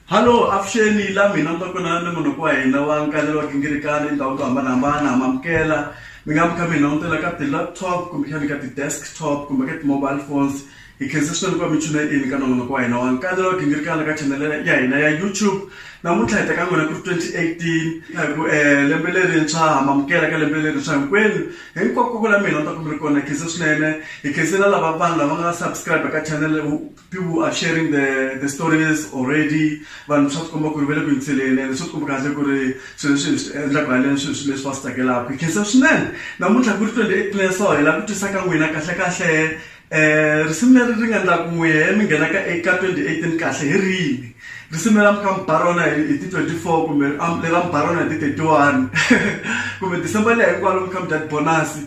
Halo, avuxeni la mina ntokonana ni munhu wa hina wa nkanelo wa gingirikani endhawini to hambanahambana ha mamukela mi nga mi kha mi langutela ka ti-laptop kumbexani ka ti-desktop kumbe ka ti-mobile phones hi khensa swinene ku va mi tshune ini ka nongonoko wa hina wa nkanelo wa gingirikani ka channel ya hina ya YouTube namuntlha hi ta ka n'wina ku ri 2018 hi ku um lembe lerintshwa ha mamukela ka lembe lerintshwa hinkwenu hinkwako ku la mina ni ta ku mi ri kona hi khensa swinene hi khensela lava vanhu lava nga subscribe ka channel People are sharing the, the stories already. Vanhu swa tikomba ku ri va le ku yingiseleni ende swa tikomba kahle ku ri swilo leswi hi swi endlaka haleni swilo swi leswi va swi tsakelaka. Hi khensa swinene. Namuntlha ku ri 28 May so hi lava ku twisaka n'wina kahlekahle um risimu leri ri nga endla ku n'wi he mi nghenaka eka 2018 kahle hi rini. Risimu leri a mi kha mi ba rona hi ti 24 kumbe lera mi ba rona hi ti 31 kumbe December liya hinkwaro mi kha mi dya tibonasi.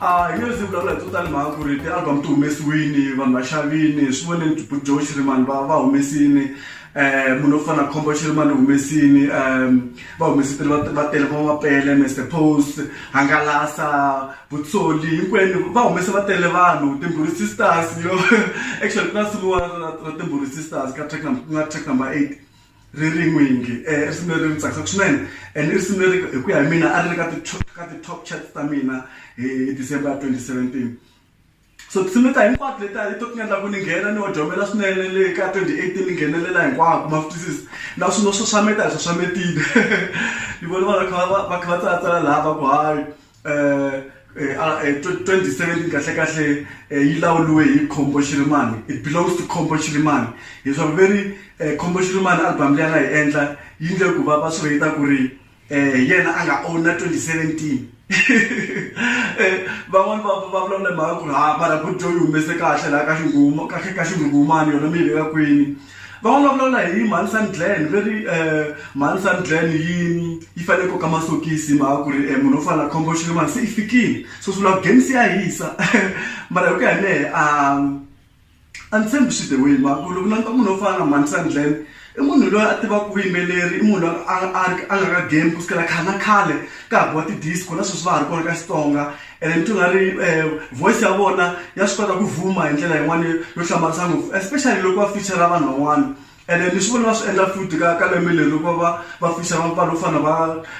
a ah, hi nge zi vulavula hi tsotani mhaka ku ri ti-album ti humesiwini vanhu va xavini swi voneni bujo xirimani va va humesini um munhu wo fana na khombo xirimani u humesini um va humesitile va tele va mapele mester post hangalasa vutsoli hinkwenu va humese va tele vanhu timbhuri sisters yo actually ku na simu ra timbhuri sisters ka track ku nga track number eight Ririn'we yinge i risimu leri ri tsakisaka swinene and i risimu leri hi ku ya hi mina a ri ri ka ti ka ti top chats ta mina hi December ya twenty seventeen so tinsimu letiya hinkwato letiya hi to ti nga endla ku ni nghena ni odlhamela swinene le ka twenty eighteen ni nghenelela hinkwako ma swi twisisa na swi no xaxameta hi xaxametile ni vona vanhu va kha va va kha va tsalatsala lava ku hayi. 2017 kahlekahle yi lawuriwe hi Khombo Xirimani it belongs to Khombo Xirimani hi swa ku veri Khombo Xirimani album leyi a nga yi endla yi ndle ku va va swi rate ku ri hi yena a nga own na 2017 van'wani va va vulavula hi mhaka ku ri ha mara Buju yi humese kahle laha ka xinghuma ka ka xinghunghumani yona mi yi veka kwini Va vulavulala hi Mhani Sun Glen ve ri Mhani Sun Glen yi yi fanele koka masokisi hi mhaka ku ri munhu wo fana na Khombo Xirhemani se i fikile so swi vula game se ya hisa mara hi ku ya hi mehe a a ni tshembi swi the way hi mhaka ku loko u languta munhu wo fana na Mhani Sun Glen i munhu loyi a tivaka vuyimbeleri i munhu loyi a a a nga ka game kusukela khale na khale ka ha biwa ti-disco na sweswi va ha ri kona ka Xitsonga. ene ni twi nga ri voice ya vona ya swi kota ku vuma hi ndlela yin'wani yo hlamarisa ngopfu especially loko va feature vanhu van'wana ene ni swi vona va swi endla futhi ka ka lembe leri loko va va feature vanhu vo fana na va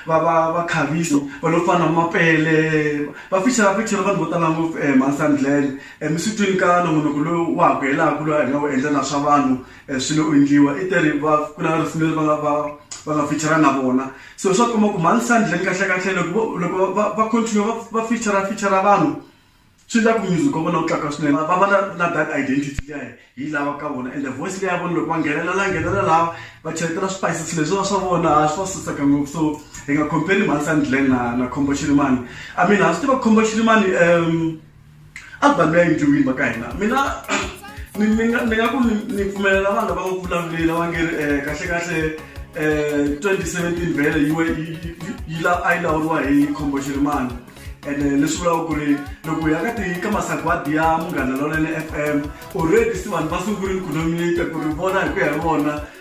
va va va Khaviso vanhu vo fana na Mapele va feature va feature vanhu vo tala ngopfu Mhani Sandland mi swi twini ka nongonoko lowu wa ha ku helaku lowu a hi nga wu endla na swa vanhu eh, swi lo endliwa i te ri va ku na risimu leri va nga va va nga feature na vona so swa komba ku mhani sandleni kahlekahle loko loko va continue va va feature feature vanhu swi endla ku music wa vona wu tlakuka swinene va va na na that identity liya hi lava ka vona and the voice leyi ya vona loko va nghenelela nghenelela laha va cheletela spices leswiwa swa vona ha swi va susaka ngopfu so hi nga compare mhani sandleni na na khombo xirimani i mean ha swi tiva khombo xirimani um a vanhu va endliwini va ka hina mina ni ni nga ni nga ku ni ni pfumelela vanhu va ku vulavuleli va nge ri eh, kahle kahle eh, 2017 vhele yi we- yi- yi- yi- yi la- a yi lawuriwa hi khombo xirimani ene eh, leswi vulaka ku ri loko hi ya ka ti ka masagwadi ya munghana lonene f m already se vanhu va sungurile ku nominate ku ri vona hi ku ya hi vona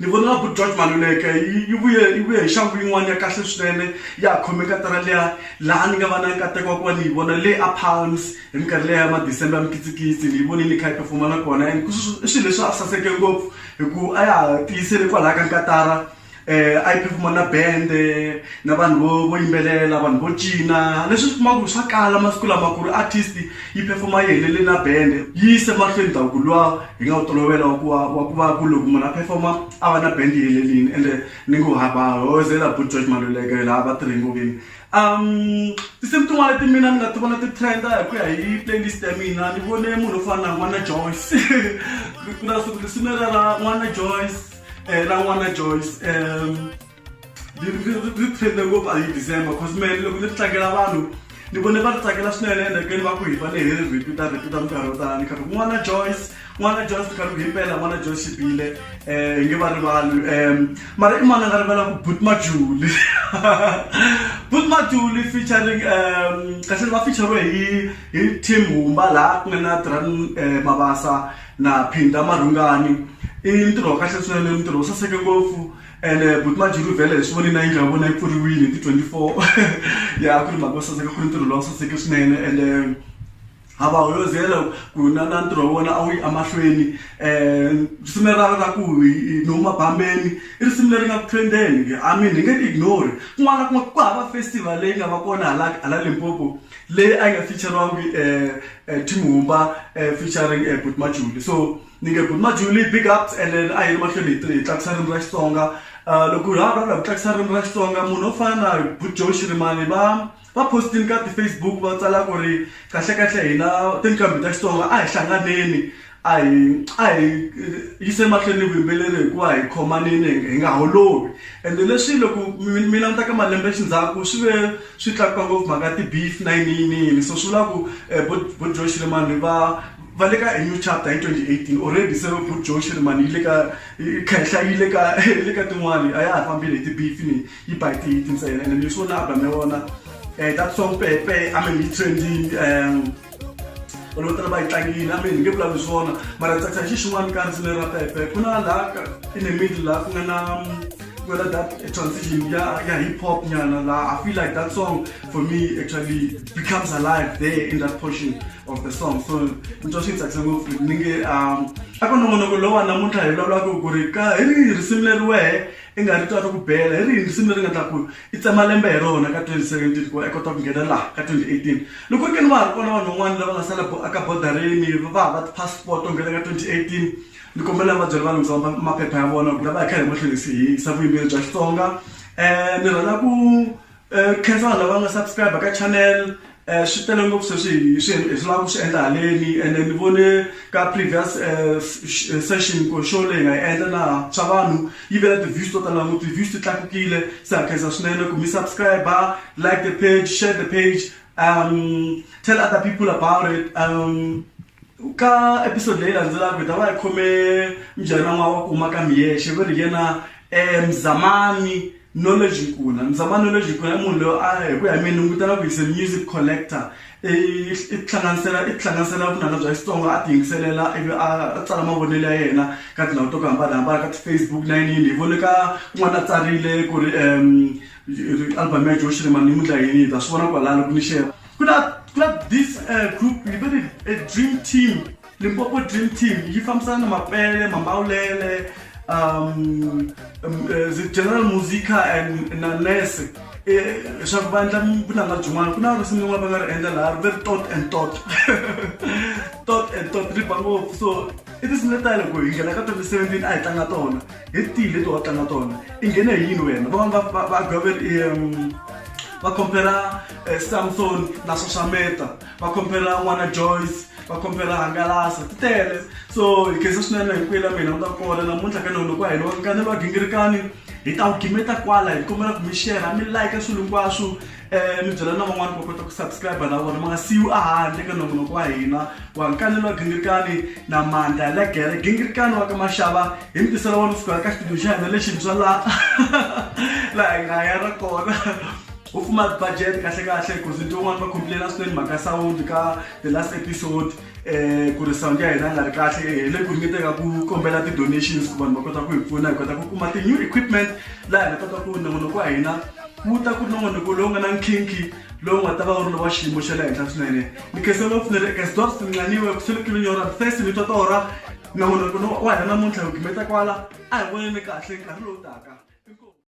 Ni vona nga ku George Maluleke yi yi vuye yi vuye hi nxangu yin'wana ya kahle swinene ya ha khome katara liya laha ni nga va na nkateko wa ku va ni yi vona le a Palms hi minkarhi liya ya ma December ya mikitsikitsi ni yi vonile ni kha yi perform-a na kona and i swilo leswi a swi saseke ngopfu hi ku a ya ha tiyisele kwalaya ka nkatara a yi perform-a na band-e na vanhu vo vo yimbelela vanhu vo cina leswi u swi kuma ku swa kala masiku lama ku ri artist yi perform-a yi helele na band-e yi yise mahlweni ndhavuko luwa Hi nga wu tolovela wa ku va wa ku va ku loko munhu a perform-a a va na band yi helerile ende ni ngo ha ba hoyozela buti George Maluleke laha va tirhe ngomeni tinsimu tin'wana leti mina ni nga ti vona ti trend-a hi ku ya hi playlist ya mina ni vone munhu wo fana na n'wana Joyce ku na siku tinsimu leriya ra n'wana Joyce ra n'wana Joyce . ri trende ngopfu a hi december cause mene loko ni ri tlangela vanhu ni vone va ri tsakela swinene ende keni va ku hi va lehe repeat a repeat minkarhi yo tala ni karhi n'wana joyce n'wana joyce ni karhi ku himpela n'wana joyce xibile um eh, hi nge va rivali um mara i mani a nga rivala ku but majuli but majuli featuring um kahleni va featurewe hi hi team humba laha ku nga na dran eh, mabasa na phinda marhungani i ntirho wa kahle swinene ntirho wu saseke ngopfu ene buti majeru vhele hi swi vonile na yindlu ya vona yi pfuriwile hi ti twenty four ya ku ri mhaka yo saseka ku ri ntirho lowu saseke swinene ende ha va hoyozela ku na na ntirho wa vona a wu yi emahlweni um risimu leri ra ra ku nomu mabambeni i risimu leri nga ku trendeni i mean hi nge ti ignore kun'wana na kun'wana ku hava festival leyi nga va kona hala hala limpopo leyi a yi nga feature-riwangi um tim humba um featuring buti majuli so Ni nge buti Majulie big up and then a hi ri mahlweni hi hi tlakusa ririmi ra Xitsonga loko hi ha vulavula hi ku tlakusa ririmi ra Xitsonga munhu wo fana na buti Joe Shirimani va va post-ini ka ti-Facebook va tsala ku ri kahlekahle hina tinqambi ta Xitsonga a hi hlanganeni a hi a hi yise mahlweni ni vuyimbeleri hikuva hi khomanini hi nga holovi ende leswi loko mina ni ta ka malembe xindzhaku swi ve swi tlakuka ngopfu mhaka ti-beef na yini yini yini so swi vula ku buti Joe Shirimani va. va le ka a new chapter hi 2018 already se good joe shirimani yi le ka khenhla yi le ka le ka tin'wani a ya ha fambile hi ti-beef ni yi ba hi tihiti ntsena ene mi swo na album ya vona um that song pepe i mean yi trending um vanhu vo tala va yi tlangile a mean hi nge vulavuli swona mara ni tsakisa hi xi xin'wana ka risimu leri ra pepe ku na laha in the middle laha ku nga na ku nga na that transition ya ya hip hop nyana laha i feel like that song for me actually becomes alive there in that portion of the song so ni twa swi tsakisa ngopfu ni nge um a ku nongonoko lowa namuntlha hi vulavulaka ku ri ka hi rihi risimu leri wehe i nga ri twa ri ku bela hi rihi risimu leri nga ta ku i tsema lembe hi rona ka 2017 ku va i kota ku nghena laha ka 2018 loko ri ke ni va ha ri kona vanhu van'wana lava nga sala aka bodarini va ha va ti-passport to nghena ka 2018 ni kombela va byela va lunghisa maphepha ya vona ku lava hi kha hi mahlweni hi yisa vuyimbeleri bya xitsonga um ni rhandza ku Nkhensa vanhu lava nga subscribe ka channel swi tele ngopfu sweswi hi swi hi swi lava ku swi endla haleni ene ni vone ka previous session ku show leyi nga yi endla na swa vanhu yi ve na ti-views to tala ngopfu ti-views ti tlakukile se ha khensa swinene ku mi subscribe like the page share the page tell other people about it ka episode leyi landzelaka hi ta va hi khome mujahana n'wana wa ku huma ka Miexe va ri hi yena Mzamani. Knowledge Nkuna, Mzama Knowledge Nkuna i munhu loyi a hi ku ya hi mina ni vutana ku he's a music collector i i tihlanganisela i tihlanganisela vunanga bya Xitsonga a ti yingiselela ivi a tsala mavonelo ya yena ka tindhawu to ku hambanahambana ka ti-Facebook na yini yini hi vone ka kun'wana a tsarile ku ri album ya Joe Shirimani ni mundla yini hi ta swi vona kwalano ku ni ku na ku na this group hi va ri a dream team. Limpopo Dream Team yi fambisana na mapele, mambawulele, um, um, eh, zi- general musica and na nurse Eh, leswaku va endla vunanga byin'wana ku na risimu rin'wana va nga ri endla laha ri ve ri tot and tot tot and tot ri ba ngopfu so i tinsimu leti tale ku hi nghena ka 2017 a hi tlanga tona hi tihi leti wa tlanga tona i nghene hi yini wena van'wana va- va- va goveri um, va compera eh, samson na sosameta va khomphela n'wana joyce va khomphela hangalasa ti tele so hi khensa swinene hi kwela mina u ta kona namuntlha ka nolo ku a hi loko nkanelo wa gingirikani hi ta wu gimeta kwala hi kombela ku mi shera mi like swilo hinkwaswo um eh, mi byela na van'wana va kota ku subscribe na vona ma nga siyiwi ahandle ka nongonoko wa hina wa nkanelo wa gingirikani na mandla ya legere gingirikani wa ka maxava hi mi tisela wona ku sukela ka xitudio xa hina lexintshwa laha laha hi nga ya ra kona vo kuma budget kahlekahle because nto un'wana va complaina swinene mhaka sound ka the last episode um ku ri sound ya hina nga ri kahle hi le ku ringeteka ku kombela ti-donations ku vanhu va kota ku hi pfuna hi kota ku kuma ti-new equipment laha hi nga kota ku nongonoko wa hina wu ta ku nongonoko lowu nga na nkhinkhi lowu nga ta va wu ri lowa xiyimo xa le henhla swinene ni khese lowu pfunere eka sidor sinqaniwe ku selekile nyora fesi ni totora nongonoko wa hina namuntlha hi gimeta kwala a hi voneni kahle nkarhi lowu taka